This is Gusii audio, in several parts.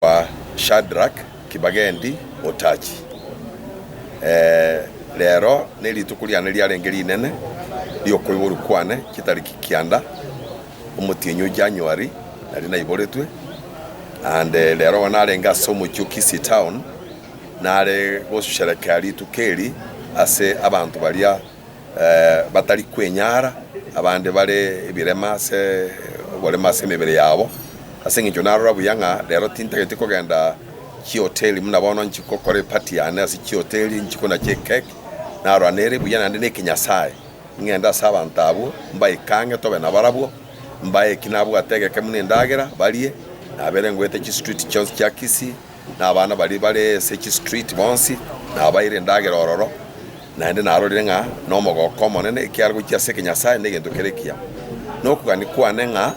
Kwa Shadrak, Kibagendi, Otachi. Ee, rero nerituko riane riarenge rinene riokoiborwa kwane, chitariki kianda, omotienyi o January naria naiboretwe, and rero igo narenge ase omochie o Kisii Town nare gosherekea rituko eri ase abanto baria. batari kwenyara, abande bare ebirema ase oborema ase emebere yabo. Ase engencho narora buya ng'a rero tintageti kogenda chihoteli buna bono nchi gokora eparty yane ase chihoteli, nchi kona chiekeki, narora nere buya naende nekinyasae ng'ende ase abanto abwo mbaikange tobe nabarabwo, mbae eki nabwate egeke buna endagera barie, nabere ngoeta chistreet chionsi chia Kisii. na abana baria bare ase chistreet bonsi, nabaeire endagera ororo, naende narorire ng'a nomogooko omonene, ekiagera gochia ase ekenyasae negento kere ekiya. Na okogania kwane ng'a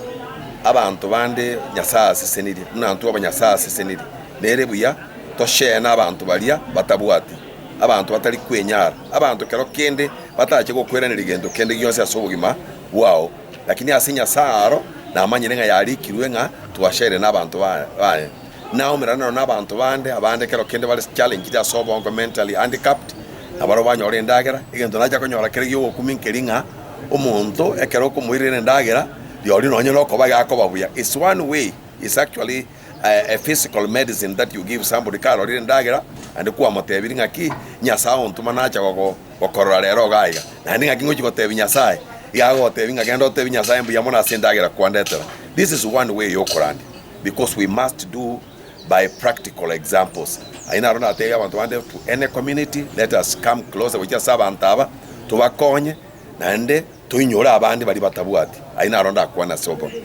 abanto bande Nyasae asesenirie, buna intwe aba Nyasae asesenirie, nere buya toseene abanto baria batabwati, abanto batari kwenyara, abanto kero kende batache gokweraneria gento kende gionsi ase obogima bwao, lakini ase Nyasae aro namanyire ng'a yarikirwe ng'a twaseerene abanto baye. naomerane nao na abanto bande abande ekero kende bare challenged ase obongo, mentally handicapped, na barabwo banyore endagera, egento nacha konyora kere giogokumia nkeri ng'a omonto ekero okomoirera endagera rirorio nonye nokoba yakoba buya. It's one way, it's actually a physical medicine that you give somebody karorire endagera naende kwamotebirie ng'a ki Nyasae ontoma nacha gogo gokorora rero iga iga. Naende ng'aki ngochi gotebia Nyasae, iga agotebia ng'a genda otebie Nyasae mbuya mono ase endagera kwandetera. This is one way yokorandia. Because we must do by practical examples. Ayio naro natebia abanto bande to any community, let us come closer gochia ase abanto aba, tobakonye, naende toinyore abande baria batabwati. Ayio naro ndakwane ase obobe.